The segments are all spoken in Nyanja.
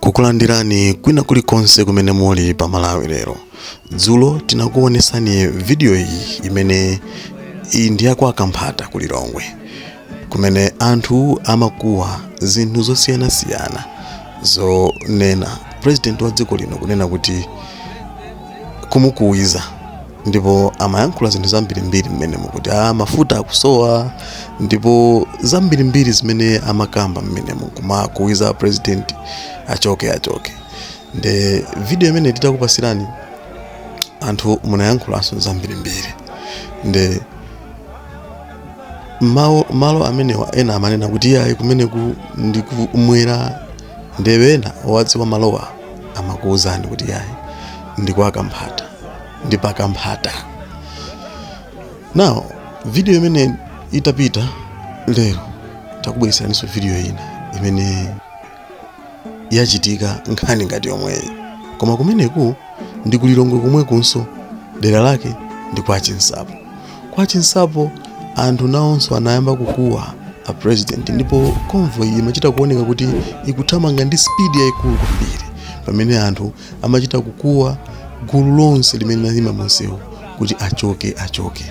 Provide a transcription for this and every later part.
kukulandirani kwina kulikonse kumene muli pa malawi lero dzulo tinakuonesani vidiyo iyi imene ndi yakwa kamphata ku lilongwe kumene anthu amakuwa zinthu zosiyanasiyana zonena president wa dziko lino kunena kuti kumukuwiza ndipo amayankhula zinthu zambirimbiri mmenemo kuti a mafuta akusowa ndipo zambirimbiri zimene amakamba mmenemo kumakuwiza president achoke achoke nde video imene titakupasirani anthu munayankhulanso zambirimbiri nde malo amenewa ena amanena kuti iyayi kumeneku ndi kumwera nde ena owadziwa malowa amakuwuzani kuti iyayi ndi kwa kamphata ndi pa kamphata now video imene itapita lero takubweretseraninso video ina imene yachitika nkhani ngati yomweyi koma kumeneku ndi kulilongwe komwekunso dera lake ndi kwa chinsapo kwa chinsapo anthu nawonso anayamba kukuwa a president ndipo convoy imachita kuoneka kuti ikuthamanga ndi speed yayikulu kwambiri pamene anthu amachita kukuwa gulu lonse limene linayima munsewu kuti achoke achoke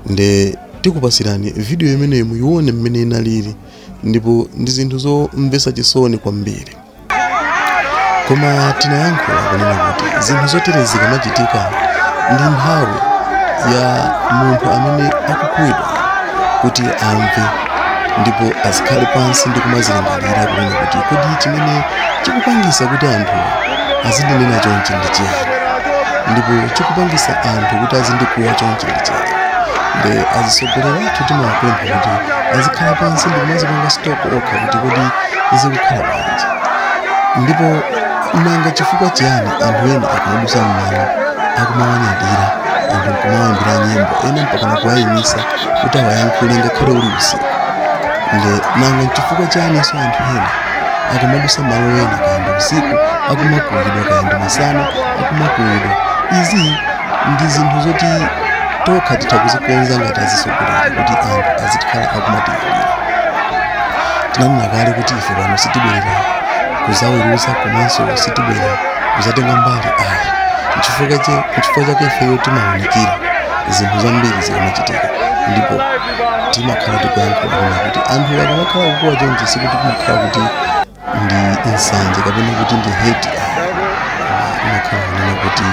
nde tikupasirani vidiyo imeneyo muyione mmene inalili ndipo ndi zinthu zomvetsa chisoni kwambiri koma tinayankhula kunena kuti zinthu zotere zikamachitika ndi nthawi ya munthu amene akukuwizidwa kuti amve ndipo azikhale pansi ndi kumazilingalira kunena kuti kodi chimene chikupangisa kuti anthu azindinena chonchi ndi chiyani ndipo chikupangisa anthu kuti azindikuwa chonchi ndi chiyani nde azitsogoleri athu timawapempha kuti azikhala pansi ndi kumazipanga stock okha kuti kodi zikukhala bwanji ndipo nanga chifukwa chiyani anthu ena akamadutsa mmalo akumawanyadira anthu kumawaimbira nyimbo ena mpakana kuwayimitsa kuti awayankhule ngakhale uli usiku nde nanga nchifukwa chaninso anthu ena akamadutsa malo ena kaya ndi usiku akumakuwidwa kaya ndi masana akumakuwidwa izi ndi zinthu zoti tokha titha kuzikonza ngati azitsogoleri kuti anthu azikhala akumatilira tinanena kale kuti ife pano sitibwera kuzaweruza komanso sitibwera kuzatenga mbali ayi nchifukwa chake ifeyo timaunikira zinthu zambiri chilichonse chimachitika ndipo timakhala tikuyankhula kunena kuti anthu akamakhala kukuwa chonchi sikuti kumakhala kuti ndi nsanje kapena kuti ndi hate imakhala kunena kuti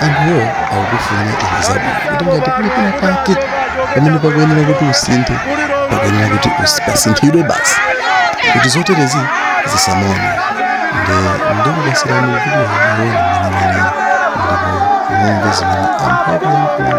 anthuwo akukufunira iwe zabwino kuti ngati kuli pena pake pamene pakuyenera kuti usinthe pakuyenera kuti usi- pasinthidwe basi kuti zoterezi zisamaoneke nde ndikupasirani kuti muone mwenimwenini ndipo mumve zimene anthu akuyankhula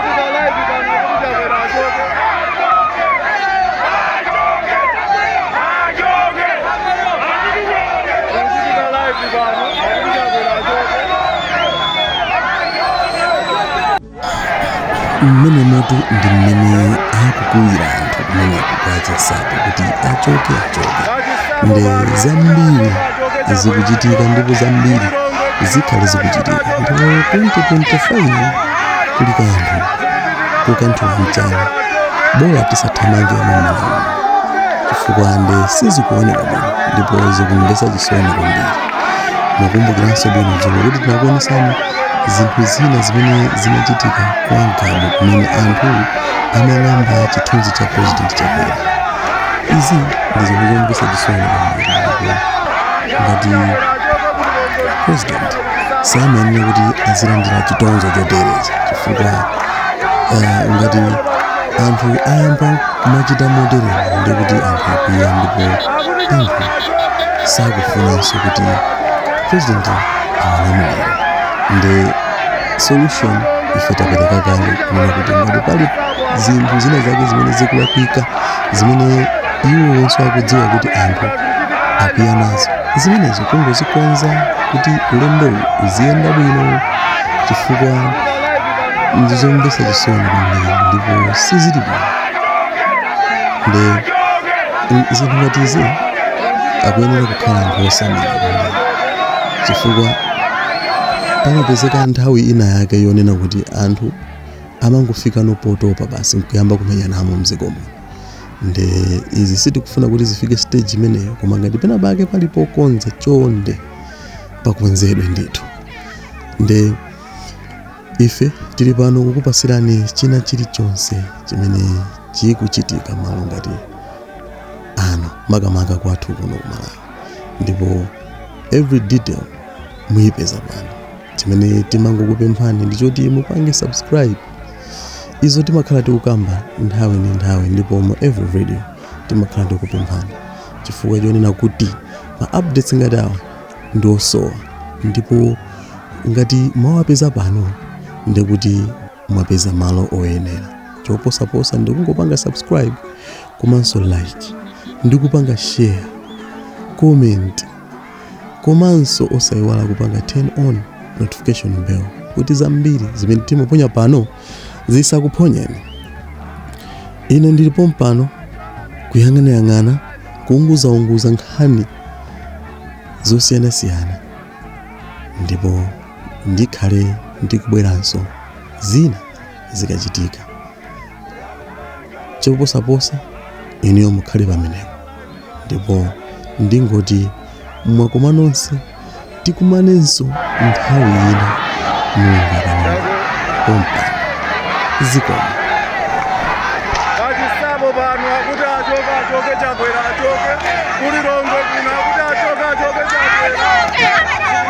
mmene moto ndi mmene akukuwira anthu kumeneko kwa Chinsapo kuti achoke achoke nde zambiri zikuchitika ndipo zambiri zikhale zikuchitika ndipo 2025 kuli kanthu kukanthula mchana bola tisathamange mumalamu chifukwa nde sizikuoneka bwino ndipo zikumvesa chisoni kwambiri mukumbukiranso bwino dzulo kuti tinakuonesani zinthu zina zimene zinachitika kwa Mgabu kumene anthu anang'amba chithunzi cha president chakwera izi ndi zinthu zomvesa chisoni kwambiri ndipo ngati president samayenera kuti azilandira chitonzo choterechi chifukwa eh, ngati anthu ayamba kumachita moteremu nde kuti anthu akwiya ndipo anthu sakufunanso kuti president awalamulire nde solution ife tapereka kale kunena kuti ngati pali zinthu zina zake zimene zikulakwika zimene iwo onse akudziwa kuti anthu akwiya nazo zimenezo kungozikonza kuti ulendowu uziyenda bwino chifukwa ndizomvetsa chisoni kwambiri ndipo sizili bwino nde zinthu ngati izi akuyenera kukhala anthu osamala kwambiri chifukwa pamapezeka nthawi ina yake yonena kuti anthu amangofika nopotopa basi nkuyamba kumenyanamo mdziko muno nde izi sitikufuna kuti zifike stage imeneyo koma ngati pena pake pali pokonza chonde pakonzedwe ndithu nde ife tili pano kukupasirani china chilichonse chimene chikuchitika malo ngati ano makamaka kwathu kuno kumalawi ndipo every detail muyipeza pano chimene timangokupemphani ndi choti mupange subscribe izo timakhala tikukamba nthawi ndi nthawi ndipo mu every video timakhala tikupemphani chifukwa chonena kuti ma updates ngati awa ndi osowa ndipo ngati mwawapeza pano ndi kuti mwapeza malo oyenera choposaposa ndi kungopanga subscribe komanso like ndi kupanga share comment komanso osaiwala kupanga turn on notification bell kuti zambiri zimene timaponya pano zisakuphonyeni ine ndili pompano kuyang'anayang'ana kuunguzaunguza nkhani zosiyanasiyana ndipo ndikhale ndikubweranso zina zikachitika choposaposa inuyo mukhale pamenepo ndipo ndingoti mwakoma nonse tikumanenso nthawi ina mulungu akanena pompano zikomo achisabo pano akuti achoke achoke chakwera achoke ku lilongwe kuno akuti achoke achoke chakwera